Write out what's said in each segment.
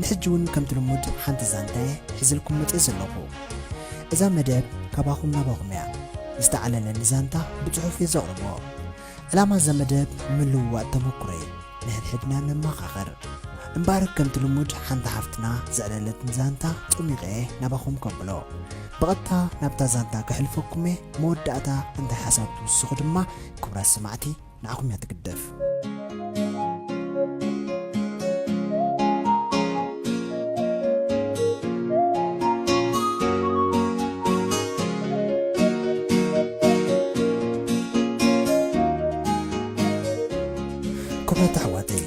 ንሕጂ ውን ከምቲ ልሙድ ሓንቲ ዛንታየ ሒዘልኩም መጽየ ዘለኹ እዛ መደብ ካባኹም ናባኹም እያ ዝተዓለለኒ ዛንታ ብጽሑፍ እየ ዘቕርቦ ዕላማ እዛ መደብ ምልውዋጥ ተመኩሮ እዩ ንሕድሕድና ነመኻኸር እምበኣር ከምቲ ልሙድ ሓንቲ ሓፍትና ዘዕለለትኒ ዛንታ ጠሚቐ እየ ናባኹም ከብሎ ብቐጥታ ናብታ ዛንታ ክሕልፈኩም እየ መወዳእታ እንታይ ሓሳብ ትውስኹ ድማ ክብራት ሰማዕቲ ንዓኹም እያ ትግደፍ። ክቡራት ኣሕዋተይ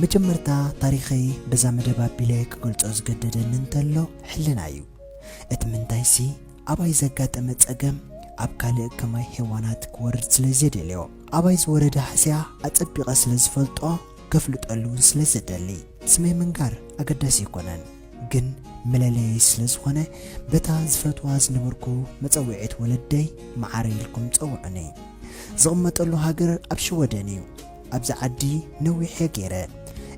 መጀመርታ ታሪኸይ በዛ መደብ ኣቢለ ክገልጾ ዝገደደኒ እንተሎ ሕልና እዩ እቲ ምንታይሲ ኣባይ ዘጋጠመ ጸገም ኣብ ካልእ ከማይ ሄዋናት ክወርድ ስለ ዘይደልዮ። ኣባይ ዝወረደ ሃስያ ኣጸቢቐ ስለ ዝፈልጦ ከፍልጠሉ ውን ስለ ዝደሊ ስመይ ምንጋር ኣገዳሲ ኣይኮነን ግን መለለየይ ስለ ዝኾነ በታ ዝፈትዋ ዝነበርኩ መጸውዒት ወለደይ መዓረይ ኢልኩም ጸውዑኒ። ዝቕመጠሉ ሃገር ኣብ ሽወደን እዩ። ኣብዚ ዓዲ ነዊሕ'የ ገይረ።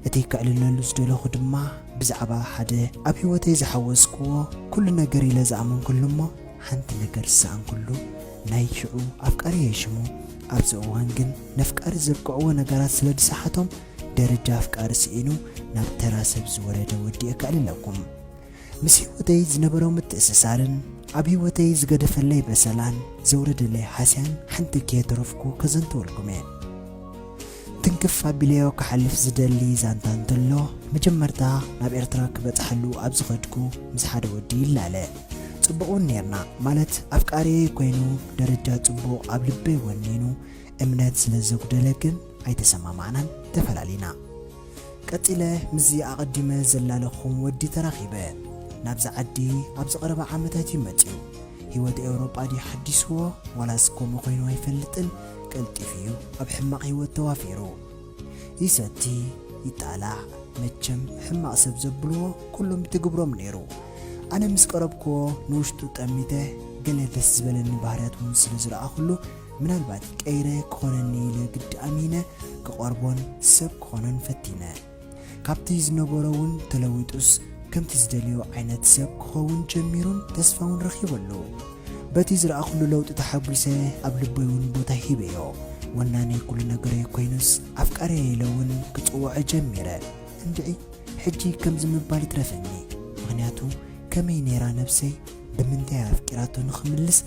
እቲ ከዕልለሉ ዝደለኹ ድማ ብዛዕባ ሓደ ኣብ ህይወተይ ዝሓወስክዎ ኩሉ ነገር ኢለ ዝኣመንክሉ እሞ ሓንቲ ነገር ዝሰኣንክሉ ናይ ሽዑ ኣፍቃሪየይ ሽሙ ኣብዚ እዋን ግን ነፍቃሪ ዘብቅዕዎ ነገራት ስለ ዝሰሓቶም ደረጃ ኣፍቃሪ ስኢኑ ናብ ተራ ሰብ ዝወረደ ወዲ'የ ከዕልለኩም ምስ ህይወተይ ዝነበሮ ምትእስሳርን ኣብ ህይወተይ ዝገደፈለይ በሰላን ዘውረደለይ ሃስያን ሓንቲ ከየተረፍኩ ከዘንትወልኩም እየ። ትንክፍ ኣቢለዮ ክሓልፍ ዝደሊ ዛንታ እንተሎ፣ መጀመርታ ናብ ኤርትራ ክበጽሓሉ ኣብ ዝኸድኩ ምስ ሓደ ወዲ ይላለ። ጽቡቕ'ውን ኔርና፣ ማለት ኣፍቃሪየይ ኮይኑ ደረጃ ጽቡቕ ኣብ ልበይ ወኒኑ እምነት ስለ ዘጉደለ ግን ኣይተሰማማዕናን ተፈላሊና። ቀጺለ ምስዚ ኣቐዲመ ዘላለኹኹም ወዲ ተራኺበ። ናብዚ ዓዲ ኣብዚ ቀረባ ዓመታት እዩ መጺኡ። ህይወት ኤውሮጳ ድዩ ሓዲስዎ ዋላስ ከምኡ ኮይኑ ኣይፈልጥን ቀልጢፉ እዩ ኣብ ሕማቕ ህይወት ተዋፊሩ። ይሰቲ ይጣላዕ መቸም ሕማቕ ሰብ ዘብልዎ ኩሎም ይትግብሮም ነይሩ። ኣነ ምስ ቀረብክዎ ንውሽጡ ጠሚተ ገለ ደስ ዝበለኒ ባህርያት እውን ስለ ዝረኣኹሉ ምናልባት ቀይረ ክኾነኒ ኢለ ግዲ ኣሚነ ክቐርቦን ሰብ ክኾኖን ፈቲነ። ካብቲ ዝነበሮ እውን ተለዊጡስ ከምቲ ዝደልዮ ዓይነት ሰብ ክኸውን ጀሚሩን ተስፋ እውን ረኺበሉ። በቲ ዝረኣኹሉ ለውጢ ተሓጒሰ ኣብ ልበይ እውን ቦታ ሂበዮ። ወናኒ ኩሉ ነገረይ ኮይኑስ ኣፍቃርየይ ኢለ እውን ክጽውዖ ጀሚረ። እንድዒ ሕጂ ከምዚ ምባል ይትረፈኒ ምኽንያቱ ከመይ ነይራ ነብሰይ? ብምንታይ ኣፍቂራቶ ንኽምልስ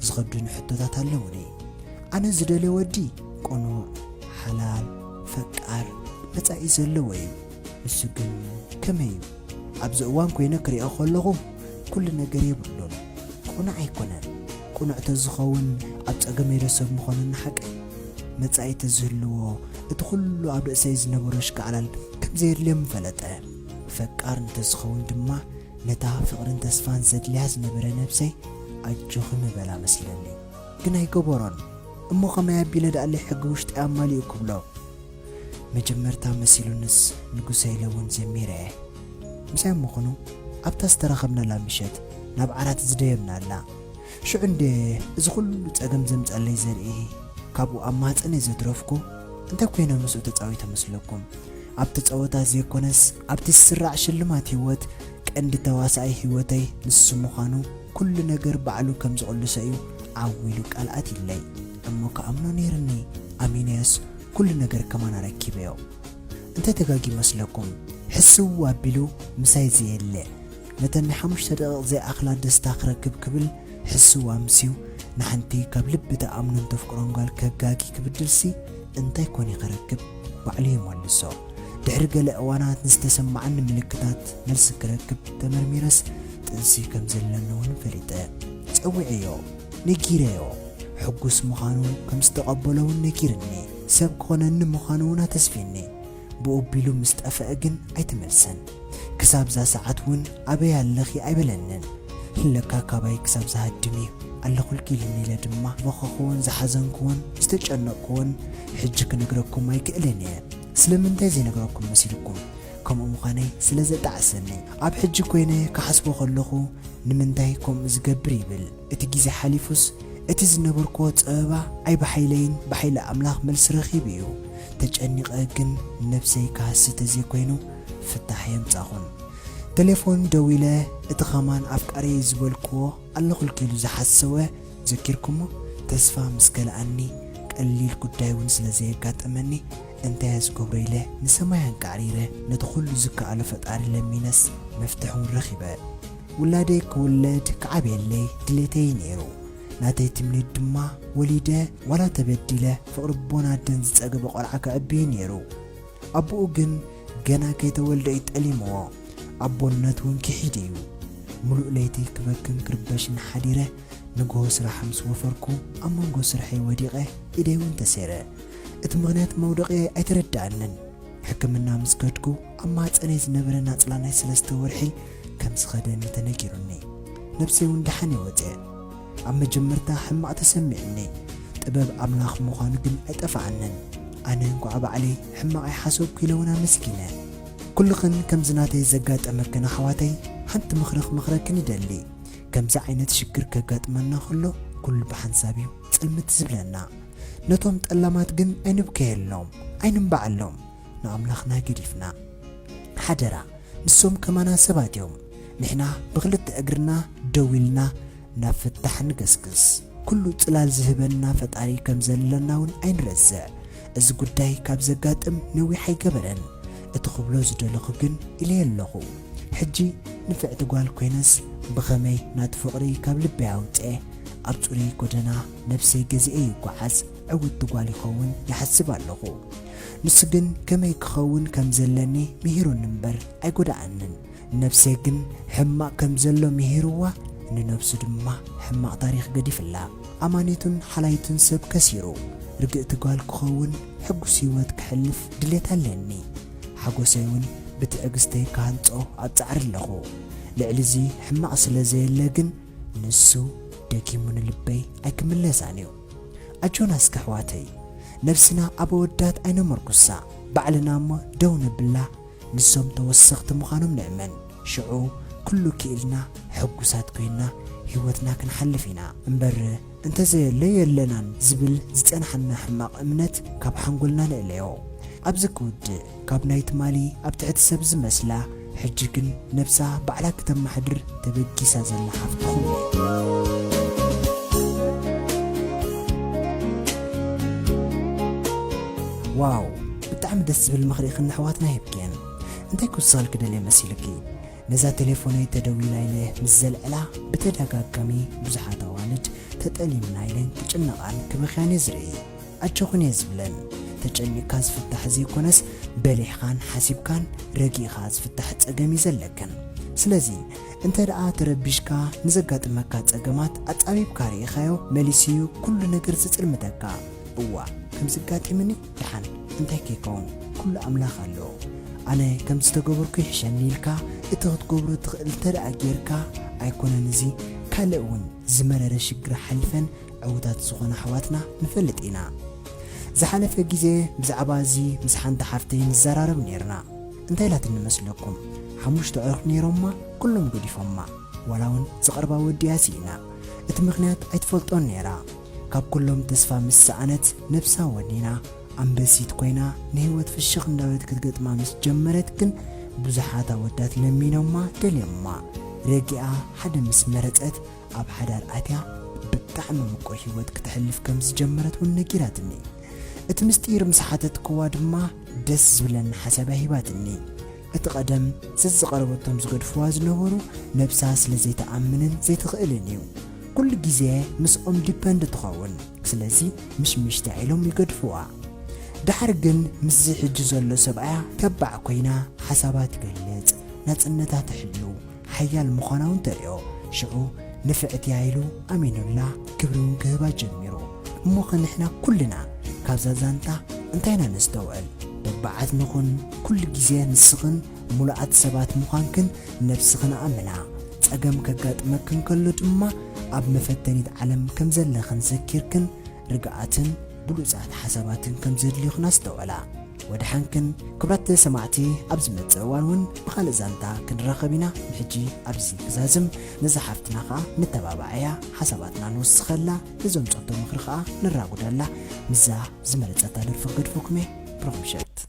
ዝኸብዱኒ ሕቶታት ኣለዉኒ። ኣነ ዝደልዮ ወዲ ቅኑዕ፣ ሓላል፣ ፈቃር፣ መጻኢ ዘለዎ እዩ። ንሱ ግን ከመይ እዩ? ኣብዚ እዋን ኮይነ ክሪኦ ከለኹ ኩሉ ነገር የብሉን። ቅኑዕ ኣይኮነን። ቅኑዕ ተዝኸውን ኣብ ጸገመይ ዶ ሰብ ምኾነ ንሓቀይ? መጻኢ ተዝህልዎ እቲ ኩሉ ኣብ ርእሰይ ዝነበሮ ሽካዕላል ከምዘየድልዮ ምፈለጠ። ፈቃር እንተዝኸውን ድማ ነታ ፍቅርን ተስፋን ዘድልያ ዝነበረ ነብሰይ ኣጆኺ ምበላ መስለኒ ግን ኣይገበሮን እሞ ከመይ ኣቢለ ደኣለይ ሕጊ ውሽጠይ ኣማሊኡ ክብሎ መጀመርታ መሲሉንስ ንጉሰይ ኢለ ውን ዘሚረ እየ ምስኣም ምኽኑ ኣብታ ዝተራኸብናላ ምሸት ናብ ዓራት ዝደየብናላ ሽዑ እንድየ እዚ ኩሉ ጸገም ዘምጸለይ ዘርኢ ካብኡ ኣብ ማህጸነይ ዘትረፍኩ እንታይ ኮይነ ምስኡ ተጻዊተ መስለኩም ኣብቲ ጸወታ ዘይኮነስ ኣብቲ ዝስራዕ ሽልማት ሂወት ቀንዲ ተዋሳኣይ ሂወተይ ንሱ ምዃኑ ኩሉ ነገር ባዕሉ ከም ዝቕልሶ እዩ ዓው ኢሉ ቃል ኣትይለይ እሞ ክኣምኖ ነይርኒ ኣሚነዮስ ኩሉ ነገር ከማን ኣረኪበዮ እንታይ ተጋጊ መስለኩም ሕስው ኣቢሉ ምሳይ ዘየለ ነተን ንሓሙሽተ ደቒቕ ዘይኣኽላ ደስታ ክረክብ ክብል ሕስው ኣምስዩ ንሓንቲ ካብ ልቢ ትኣምኖን ተፍቅሮን ጓል ከጋጊ ክብድልሲ እንታይ ኮን'የ ክረክብ? ባዕሉ ይመልሶ። ድሕሪ ገለ እዋናት ንዝተሰማዓኒ ምልክታት መልሲ ክረክብ ተመርሚረስ ጥንሲ ከም ዘለኒ'ውን ፈሊጠ። ጸዊዐዮ። ነጊረዮ። ሕጉስ ምዃኑ ከም ዝተቐበሎ'ውን ነጊርኒ። ሰብ ክኾነኒ ምዃኑ'ውን ኣተስፊኒ። ብኡ ኣቢሉ ምስ ጠፈኣ ግን ኣይተመልሰን። ክሳብ እዛ ሰዓት እውን ኣበይ ኣለኺ ኣይበለንን። ለካ ካባይ ክሳብ ዝሃድም እዩ ኣለኹልኪ ኢሉኒ ኢለ ድማ ዝበኸኹዎን ዝሓዘንኩዎን ዝተጨነቕኩዎን ሕጂ ክነግረኩም ኣይክእልን እየ። ስለምንታይ ዘይነግረኩም መሲልኩም? ከምኡ ምዃነይ ስለ ዘጣዕሰኒ። ኣብ ሕጂ ኮይነ ክሓስቦ ከለኹ ንምንታይ ከምኡ ዝገብር ይብል። እቲ ግዜ ሓሊፉስ እቲ ዝነበርኩዎ ጸበባ ኣይብሓይለይን ብሓይሊ ኣምላኽ መልሲ ረኺቡ እዩ ተጨኒቐ ግን ነብሰይ ክሃሲ ተዘይኮይኑ ፍታሕ ኣየምጻኹን ተሌፎን ደዊለ እቲ ከማን ኣፍቃሪየይ ዝበልኩዎ ኣለኹልኪ ኢሉ ዝሓሰወ ዘኪርኩሞ ተስፋ ምስ ከልኣኒ ቀሊል ጉዳይ ውን ስለ ዘየጋጠመኒ እንታይ እየ ዝገብሮ ኢለ ንሰማይ ኣንቃዕሪረ ነቲ ኩሉ ዝከኣሎ ፈጣሪ ለሚነስ መፍትሕ ውን ረኺበ ውላደይ ክውለድ ክዓብየለይ ድሌተይ ነይሩ። ናተይ ትምኒት ድማ ወሊደ ዋላ ተበዲለ ፍቕሪ ኣቦን ኣደን ዝጸገበ ቆልዓ ከዕቢ እዩ ነይሩ። ኣቡኡ ግን ገና ከይተወልደ እዩ ጠሊምዎ። ኣቦነት እውን ክሒድ እዩ። ምሉእ ለይቲ ክበክን ክርበሽን ሓዲረ ንግሆ ስራሕ ምስ ወፈርኩ ኣብ መንጎ ስርሐይ ወዲቐ ኢደይ እውን ተሰይረ። እቲ ምኽንያት መውደቒየይ ኣይተረድኣንን። ሕክምና ምስ ከድኩ ኣብ ማህጸነይ ዝነበረ ናጽላ ናይ ሰለስተ ወርሒ ከም ዝኸደን እዩ ተነጊሩኒ። ነብሰይ ውን ደሓን እየ ወጺኣ። ኣብ መጀመርታ ሕማቕ ተሰሚዑኒ፣ ጥበብ ኣምላኽ ምዃኑ ግን ኣይጠፍኣንን። ኣነ እንቋዕ ባዕለይ ሕማቕ ኣይሓሰብኩ ኢለ ውን ኣመስጊነ። ኩልኽን ከምዚ ናተይ ዘጋጠመክን ኣሕዋተይ ሓንቲ ምኽሪ ክመኽረክን ይደሊ። ከምዚ ዓይነት ሽግር ከጋጥመና ከሎ ኩሉ ብሓንሳብ እዩ ጽልምት ዝብለና። ነቶም ጠላማት ግን ኣይንብከየሎም፣ ኣይንንባዓሎም። ንኣምላኽና ገዲፍና ሓደራ ንሶም ከማና ሰባት እዮም ንሕና ብኽልተ እግርና ደው ኢልና ናብ ፍታሕ ንገስግስ ኩሉ ጽላል ዝህበና ፈጣሪ ከም ዘለና ውን ኣይንረስዕ እዚ ጉዳይ ካብ ዘጋጥም ነዊሕ ኣይገበረን እቲ ክብሎ ዝደለኹ ግን ኢለዮ ኣለኹ ሕጂ ንፍዕቲ ጓል ኮይነስ ብኸመይ ናቱ ፍቕሪ ካብ ልበይ ኣውጸ ኣብ ጽሩይ ጎደና ነብሰይ ገዚኤ ይጓዓዝ ዕውቲ ጓል ይኸውን ይሓስብ ኣለኹ ንሱ ግን ከመይ ክኸውን ከም ዘለኒ ምሂሩኒ እምበር ኣይጎደኣንን። ንነብሰይ ግን ሕማቕ ከም ዘሎ ምሂርዋ፣ ንነብሱ ድማ ሕማቕ ታሪኽ ገዲፍላ። ኣማኒቱን ሓላይቱን ሰብ ከሲሩ። ርግእቲ ጓል ክኸውን፣ ሕጉስ ህይወት ከሕልፍ ድሌት ኣለኒ። ሓጎሰይ እውን ብትዕግስተይ ክሃንጾ ኣብ ጻዕሪ ኣለኹ። ልዕሊ እዚ ሕማቕ ስለ ዘየለ ግን ንሱ ደጊሙ ንልበይ ኣይክምለሳን እዩ። ኣጆና እስከ ኣሕዋተይ ነብስና ኣብ ኣወዳት ኣይነመርኩሳ ባዕልና እሞ ደው ነብላ ንሶም ተወሰኽቲ ምዃኖም ንእመን ሽዑ ኩሉ ኪኢልና ሕጉሳት ኮይና ሂወትና ክንሓልፍ ኢና እምበር እንተዘየሎ የለናን ዝብል ዝጸንሓና ሕማቕ እምነት ካብ ሓንጎልና ንእለዮ ኣብዚ ክውድእ ካብ ናይ ትማሊ ኣብ ትሕቲ ሰብ ዝመስላ ሕጂ ግን ነብሳ ባዕላ ክተማሕድር ተበጊሳ ዘላ ሓፍትኹም እየ። ዋው ብጣዕሚ ደስ ዝብል ምኽሪ ኢኽን ነሕዋትና ሂብክየን እንታይ ክውስኸል ክደልየ መሲልኪ ነዛ ቴሌፎነይ ተደዊላ ኢለ ምስ ዘልዕላ ብተዳጋጋሚ ብዙሓት ኣዋልድ ተጠሊምና ኢለን ክጭነቓን ክበኽያን እየ ዝርኢ ኣጆኽን እየ ዝብለን። ተጨኒቕካ ዝፍታሕ ዘይኮነስ በሊሕኻን ሓሲብካን ረጊእኻ ዝፍታሕ ጸገም እዩ ዘለክን። ስለዚ እንተድኣ ተረቢሽካ ንዘጋጥመካ ጸገማት ኣጻቢብካ ርኢኻዮ መሊሱ እዩ ኩሉ ነገር ዝጽልምተካ። እዋእ ከምዚ ኣጋጢምኒ ድሓን እንታይ ከይከውን ኩሉ ኣምላኽ ኣሎ ኣነ ከምዚ ዝተገበርኩ ይሕሸኒ ኢልካ እቲ ክትገብሮ ትኽእል እንተድኣ ጌርካ ኣይኮነን እዚ ካልእ እውን ዝመረረ ሽግር ሓሊፈን ዕውታት ዝኾኑ ኣሕዋትና ንፈልጥ ኢና። ዝሓለፈ ግዜ ብዛዕባ እዚ ምስ ሓንቲ ሓፍተይ ንዘራረብ ኔርና። እንታይ ኢላትኒ መስለኩም? ሓሙሽተ ኣዕሩኽ ኔሮማ ኩሎም ገዲፎማ። ዋላ ውን ዝቐርባ ወዲኣ ሲኢና። እቲ ምኽንያት ኣይትፈልጦን ኔራ። ካብ ኩሎም ተስፋ ምስ ሰኣነት ነብሳ ወኒና ኣንበሲት ኮይና ንህይወት ፍሽኽ እንዳበለት ክትገጥማ ምስ ጀመረት ግን ብዙሓት ኣወዳት ለሚኖማ ደልዮማ ረጊኣ ሓደ ምስ መረጸት ኣብ ሓዳር ኣትያ ብጣዕሚ ምቁር ህይወት ክተሕልፍ ከም ዝጀመረት እውን ነጊራትኒ። እቲ ምስጢር ምስ ሓተትክዋ ድማ ደስ ዝብለኒ ሓሳብ'ያ ሂባትኒ። እቲ ቀደም ዘዝቐረበቶም ዝገድፍዋ ዝነበሩ ነብሳ ስለ ዘይትኣምንን ዘይትኽእልን እዩ። ኩሉ ግዜ ምስኦም ዲፐንድ ትኸውን። ስለዚ ምሽምሽታ ኢሎም ይገድፍዋ። ደሓር ግን ምስዚ ሕጂ ዘሎ ሰብኣያ ተባዕ ኮይና ሓሳባ ትገልጽ፣ ናጽነታ ትሕሉ፣ ሓያል ምዃናውን ተርእዮ። ሽዑ ንፍዕቲ'ያ ኢሉ ኣሚኑላ ክብሪ'ውን ክህባ ጀሚሩ። እሞኸ ንሕና ኩልና ካብዛ ዛንታ እንታይ ኢና ነስተውዕል? ተባዓት ንኹን፣ ኩሉ ግዜ ንስኽን ምሉኣት ሰባት ምዃንክን ነብስኽን ኣእምና። ጸገም ከጋጥመክን ከሎ ድማ ኣብ መፈተኒት ዓለም ከም ዘለኽን ዘኪርክን ርግኣትን፣ ብሉጻት ሓሳባትን ከም ዘድልዩኽን ኣስተውዕላ። ወደሓንክን ክብራት ሰማዕቲ ኣብ ዝመጽእ እዋን ውን ብኻልእ ዛንታ ክንራኸብ ኢና ንሕጂ ኣብዚ ክዛዝም ነዛ ሓፍትና ከኣ ነተባባዓያ ሓሳባትና ንውስኸላ ነዞም ጸቶ ምኽሪ ከኣ ነራጉደላ ምስዛ ዝመረጸታ ደርፊ ክገድፈኩምየ ብሩኽ ምሸት።